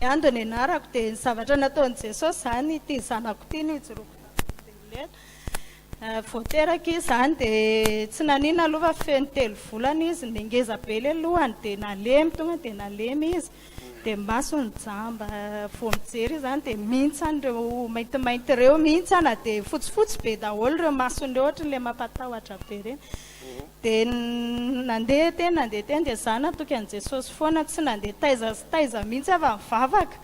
Ny ahy dia nianarako dia ny zavatra nataon'i Jesosy izany, ity zanako ity nijoroako tamin'ny velively. Vao teraka izy izany dia tsy nanina aloha fa feno telo volana izy, dia ngeza be ilay lohany dia nalemy, tonga dia nalemy izy, dia ny masony jamba. Vao mijery izy izany dia mintsana ireo maintimainty ireo, mintsana dia fotsifotsy be daholo ireo masony ireo, ohatran'ilay mampatahotra be ireny. Dia nandeha teny nandeha teny dia izaho natoky an'i Jesosy foana, tsy nandeha taiza sy taiza mihitsy aho vao nivavaka.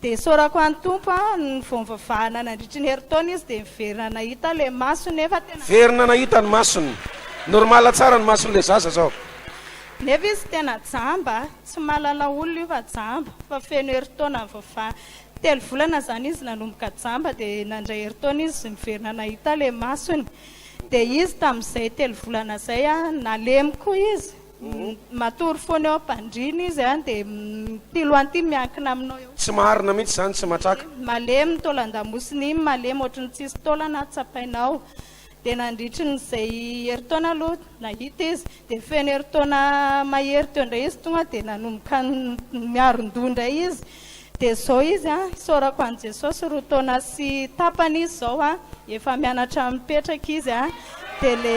Dia isaorako an'i Tompo aho, ny vao nivavahana nandritry ny herintaona izy dia niverina nahita ilay masony nefa tena. Niverina nahita ny masony. Normal tsara ny mason'ilay zaza izao. Nefa izy tena jamba, tsy mahalala olona io fa jamba, fa feno herintaona nivavahana. Telo volana izany izy nanomboka jamba dia nandray herintaona izy niverina nahita ilay masony. Dia izy tamin'izay telo volana izay nalemy koa izy, matory foana eo am-pandriana izy dia ity loha ity miankina aminao eo. Tsy marina mihitsy izany, tsy matraka. Malemy ny taolan-damosiny iny, malemy ohatry ny tsisy taolana tsapainao. Dia nandritry ny izay herintaona aloha nahita izy, dia feno herintaona mahery teo indray izy tonga dia nanomboka miaron-doha indray izy. Dia izao izy an, isaorako an'i Jesosy roa taona sy tapany izy izao an, efa mianatra mipetraka izy an, dia le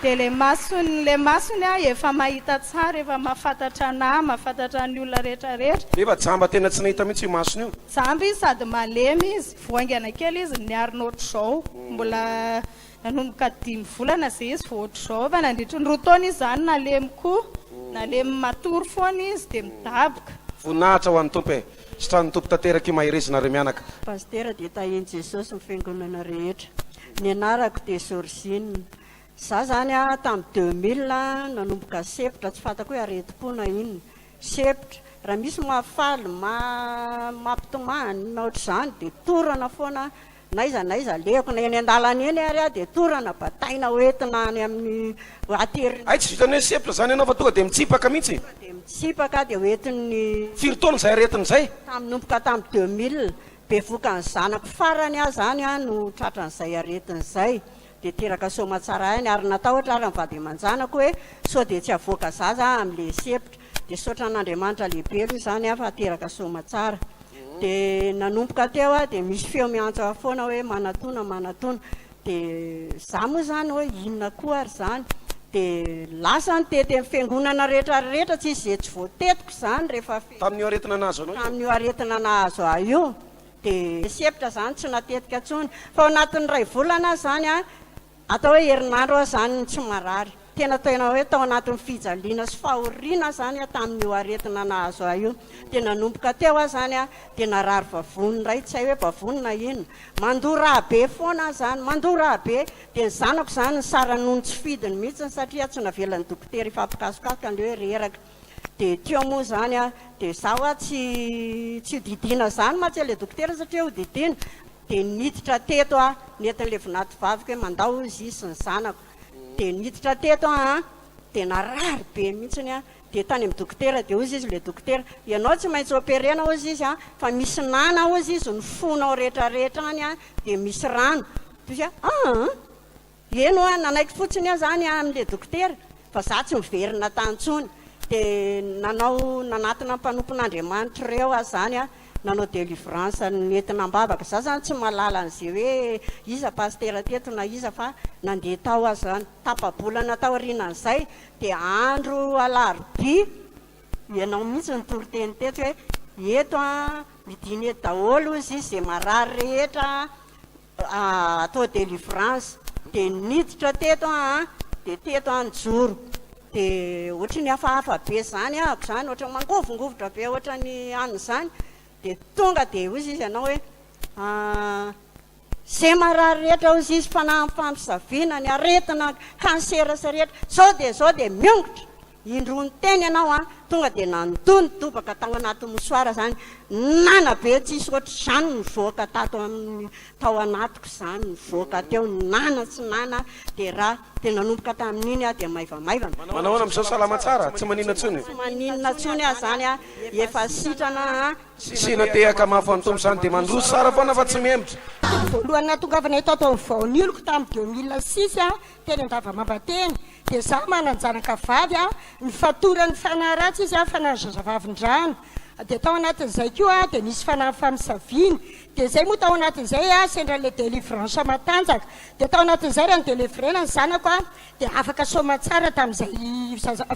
dia le masony le masony an efa mahita tsara, efa mahafantatra anah, mahafantatra ny olona rehetra rehetra. Nefa jamba tena tsy nahita mihitsy io masony io. Jamba izy sady malemy izy, voaingana kely izy, niarina ohatr'izao, mbola Nanomboka dimy volana izay izy vao ohatry izao fa nandritry ny roa taona izy izany nalemy koa, nalemy matory foana izy dia midaboka. Voninahitra ho an'ny Tompo e! Sitranin'ny Tompo tanteraka io maherezinareo mianaka. Pasitera dia tahian'i Jesosy ny fiangonana rehetra. Ny anarako dia Georgine. Za zany a tam deux mille nanomboka sepotra tsy fantako hoe aretim-po na inona. Sepotra. Raha misy mahafaly, mampitomany na ohatr'izany dia torana foana aho. N'aiza n'aiza alehako, na eny an-dalana eny ary aho dia torana, bataina ho entina any amin'ny voiture. Hay tsy vitan'ny hoe sepotra izany ianao fa tonga dia mitsipaka mihitsy. Tonga dia mitsipaka dia ho entin'ny. Firy taona izay aretina izay? Tamin'ny nomboka tamin'ny deux mille. Bevokan'ny zanako farany aho izany no tratran'izay aretina izay. dia teraka soamatsara aina ary natahotra ary ny vady aman-janako hoe sao dia tsy havoaka zaza aho amin'ilay sepotra, dia saotra an'Andriamanitra lehibeloha izany aho fa teraka soamatsara, dia nanomboka teo aho dia misy feo miantso aho foana hoe manatona manatona, dia za moa izany hoe inona koa ary izany, dia lasa ny tety amin'ny fiangonana rehetra rehetra tsisy izay tsy voatetiko izany rehefa fety, tamin'io aretina nahazo anao io? tamin'io aretina nahazo ahy io. dia misy hevitra izany tsy matetika intsony fa ao anatin'ny iray volana aza izany an, atao hoe herinandro aza izany no tsy marary, tena tena hoe tao anatin'ny fijaliana sy fahoriana aho izany an tamin'io aretina nahazo ahy io, dia nanomboka teo aho izany an dia narary vavony indray, tsy hay hoe vavony na inona, mandoa rà be foana aho izany, mandoa rà be, dia ny zanako izany nisara noho ny tsy fidiny mihitsy satria tsy navelan'ny dokotera hifampikasokasoka ilay hoe reraka. Dia teo moa izany an, dia za hoa tsy tsy hodidiana izany mantsy ilay dokotera satria hodidiana, dia niditra teto aho, nentin'ilay vinatovaviko hoe mandao hozy izy sy ny zanako, dia niditra teto aho an, dia narary be mihitsiny an, dia tany amin'ny dokotera, dia hozy izy ilay dokotera, ianao tsy maintsy operena hozy izy an, fa misy nana hozy izy ny fonao rehetra rehetra any an, dia misy rano, dia hozy aho, aa! Eny hoa nanaiky fotsiny aho zany amin'le dokotera fa za tsy miverina tany tsony de nanao nanatona mpanompon'Andriamanitra reo aho zany a nanao delivrance nentina ambavaka za zany tsy mahalala an'ze hoe iza pasitera teto na iza fa nandeha tao aho zany tapabolana taorianan'izay de andro alarobia ianao mihitsy nitoriteny teto hoe eto a midina eto daholo ozy izy ze marary rehetra atao delivrance de niditra teto aho de teto aho nijoro de ohatry ny hafahafa be zany ahako zany ohatry ny mangovingovitra be ohatry ny any zany de tonga de ozy izy anao hoe ze marary rehetra ozy izy fanaham-pampisaviana ny aretina cancer sy rehetra zao de zao de miongotra Indroa niteny ianao an, tonga dia nandoa ny tobaka tao anaty mosoara izany, nana be tsisy ohatr'izany nivoaka tato amin'ny tao anatiko izany, nivoaka teo, nana sy nana dia ra, dia nanomboka tamin'iny aho dia maivamaivana. Manao ahoana amin'izao, salama tsara, tsy maninona intsony? Tsy maninona intsony aho izany an, efa sitrana an. Sina tehaka mafy ho an'ny Tompo izany dia mandroso tsara foana fa tsy miemotra. Tamin'ny voalohany nahatongavana eto ato amin'ny vaonioloko tamin'ny deux mille six aho Teny Andavamamba teny dia izaho manan-janaka vavy aho nifatoran'ny fanahy ratsy izy aho fanahy zazavavindrano dia tao anatin'izay koa aho dia nisy fanahy famisaviana dia izay moa tao anatin'izay aho sendra an'ilay délivrance matanjaka dia tao anatin'izay raha nidelivrena ny zanako aho dia afaka soamantsara tamin'izay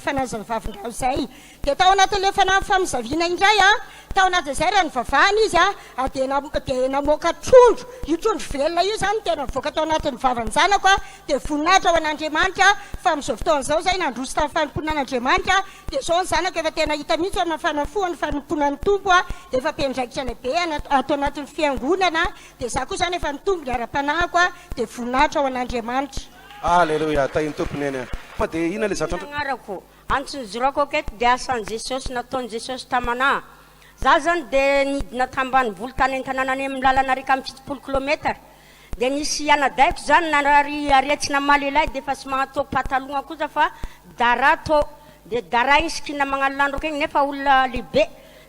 fanahy zazavavindrano izay Dia tao anatin'ilay fanamby famisaviana indray, tao anaty dezera nivavahana izy, ary dia dia namoaka trondro, io trondro velona io izany no tena nivoaka tao anatin'ny vavan'ny zanako, dia voninahitra ho an'Andriamanitra fa amin'izao fotoana izao izay nandroso tamin'ny fanompoana an'Andriamanitra, dia izao ny zanako efa tena hita mihitsy fa mifanafoha ny fanompoana ny Tompo, dia efa be andraikitra lehibe ato anatin'ny fiangonana, dia izaho koa izany efa nitombo ny ara-panahiko, dia voninahitra ho an'Andriamanitra. Aleloia, tahin'ny Tompo neny a! Fa dia inona ilay zatra antrano? Antony zorako ok eto dia asan'i Jesosy, nataon'i Jesosy tamana. Za zany dia nidina tambanivolo tany antanàna any amin'ny lalana rika amby fitopolo kilometatra. Dia nisy anadahiko zany narary aretsy namaly elahy dia efa tsy mahatô patalogna kosa fa dara tô. Dia dara igny sikina magnalandroka igny nefa olona lehibe.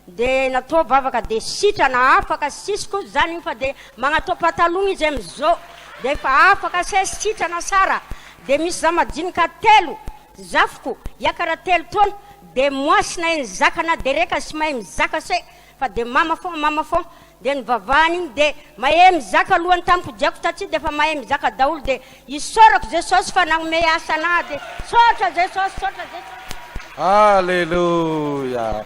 Dia natô vavaka dia sitrana afaka sisy kosa zany igny fa dia magnatô patalogna izy amizô dia efa afaka se sitrana sara. Dia misy za majinika telo. Zafiko, Iakara telo taona de moasy na eny zaka na dereka sy mahay mizaka se fa de mama fon mama fon de nivavahana iny de mahe mizaka alohan'ny tampodiako taty defa mahay mizaka daholo de isaorako jesosy fa nagnomey asa anah de sotra jesosy sotra jesosy. Aleloia!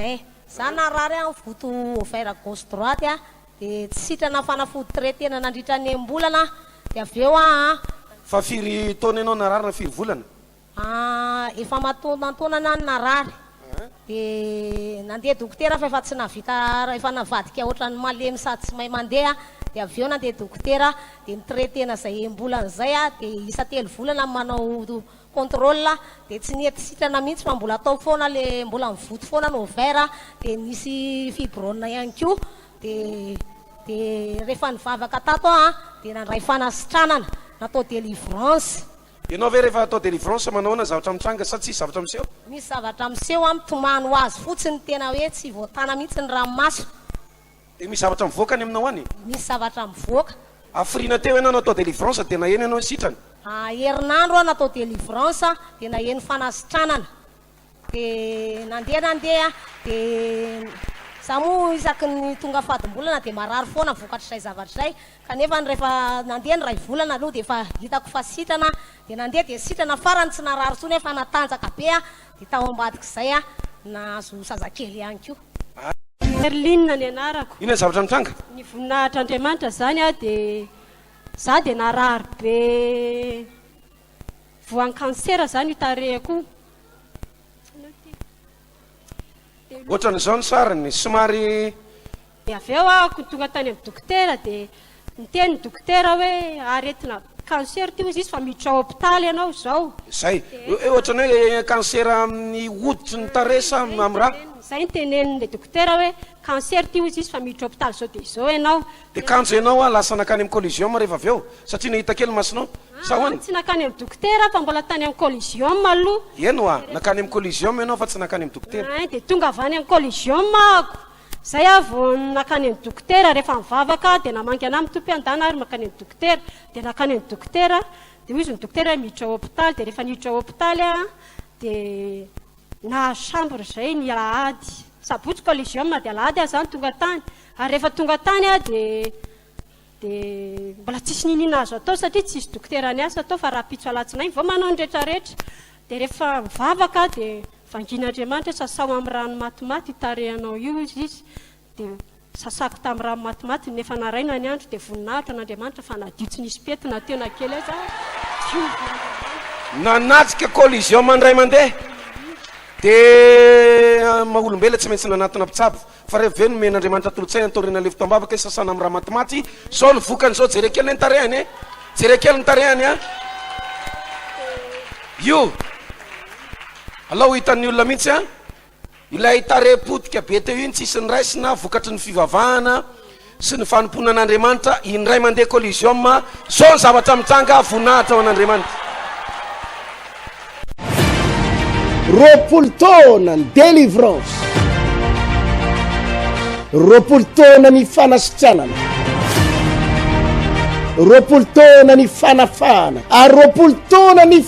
Eh! Za narary an voto ovaire gauche droite an de tsy sitrana fanafody très tena nandritra ny enim-bolana an de avy eo an. Fa firy taona ianao narary na firy volana? Ah efa matonantonana an narary de nandeha dokotera fa efa tsy nahavita efa navadika otrany malemy sady tsy mahay mandeha an de avy eo nandeha dokotera de ni traitena zay enim-bolana zay an de isa telo volana manao contrôle dia tsy nety sitrana mihitsy fa mbola atao foana le mbola mivoty foana ny ovaire dia nisy fibrône ihany koa dia dia rehefa nivavaka tato aho dia nandray fanasitranana natao délivrance. Ianao ve rehefa atao délivrance manahoana zavatra mitranga sa tsisy zavatra miseho? Misy zavatra miseho aho mitomany ho azy fotsiny tena hoe tsy voatana mihitsy ny ranomaso. Dia misy zavatra mivoaka any aminao any. Misy zavatra mivoaka. Hafiriana teo ianao natao délivrance dia naheno ianao ny sitrana. Herinandro aho natao délivrance dia naheno fanasitranana. Dia nandeha nandeha dia. Za moa isaky ny tonga fadimbolana dia marary foana vokatr'izay zavatra izay. Kanefa ny rehefa nandeha ny iray volana aloha dia efa hitako fa sitrana aho. Dia nandeha dia sitrana farany tsy narary intsony aho fa natanjaka be aho. Dia tao ambadik'izay aho nahazo zazakely ihany koa. Merline ny anarako. Inona ny zavatra nitranga? Ny voninahitr'Andriamanitra izany aho dia izaho dia narary be voan'ny kansera izany io tarehiko io. Ohatran'izao ny sariny, somary. Dia avy eo aho ko tonga tany amin'ny dokotera dia niteny ny dokotera hoe aretina cancer ity hozy izy fa miditra ao hopitaly ianao izao. Izay. Dia ohatran'ny hoe cancer amin'ny hoditry ny tarehy sa amin'ny ra? Izay no tenenin'ilay dokotera hoe cancer ity hozy izy fa miditra hopitaly izao dia izao ianao. Dia kanjo ianao aho lasa nankany amin'ny colliseum rehefa avy eo satria nahita kely masonao sa ahoana? Tsy nankany amin'ny dokotera aho fa mbola tany amin'ny colliseum aloha. Eny ho'a, nankany amin'ny colliseum ianao fa tsy nankany amin'ny dokotera. Ein, dia tonga avy any amin'ny colliseum aho ko. Zay aho vao nakany amin'ny dokotera rehefa mivavaka dia namangy anah mitompy handana ary mankany amin'ny dokotera dia nakany amin'ny dokotera dia hoy izy ny dokotera hoe miditra hopitaly dia rehefa niditra hopitaly aho dia nahazo chambre zay ny alahady sabotsy colligium dia alahady aho zany tonga tany ary rehefa tonga tany aho dia dia mbola tsisy niniana azo atao satria tsisy dokotera niasa tao fa rahampitso alatsinainy vao manao ny retraretra dia rehefa mivavaka aho dia vangin'Andriamanitra sasao amin'ny rano matimaty io tarehinao io izy izy dia sasako tamin'ny rano matimaty ny nefa naraina ny andro dia voninahitra an'Andriamanitra fa nadio tsy nisy pentina teo na kely aza nanatrika collision aman-dray mandeha dia maha-olombelona tsy maintsy nanatona mpitsabo Fa revo ve nomen Andriamanitra tolotsaina taoriana ilay fotoambavaka i sasana amin'ny ramatimaty? Zao ny vokany zao jereo kely ny tarehany e! Jereo kely ny tarehany a! Io! Alao hitan'ny olona mihitsy a! Ilay tarehy potika be teo iny tsisy niraisina vokatry ny fivavahana. sy ny fanompoana an'Andriamanitra indray mandeha Coliseum zao ny zavatra mitranga voninahitra ho an'Andriamanitra. Roapolo taona ny delivrance, roapolo taona ny fanasitranana, roapolo taona ny fanafahana ary roapolo taona ny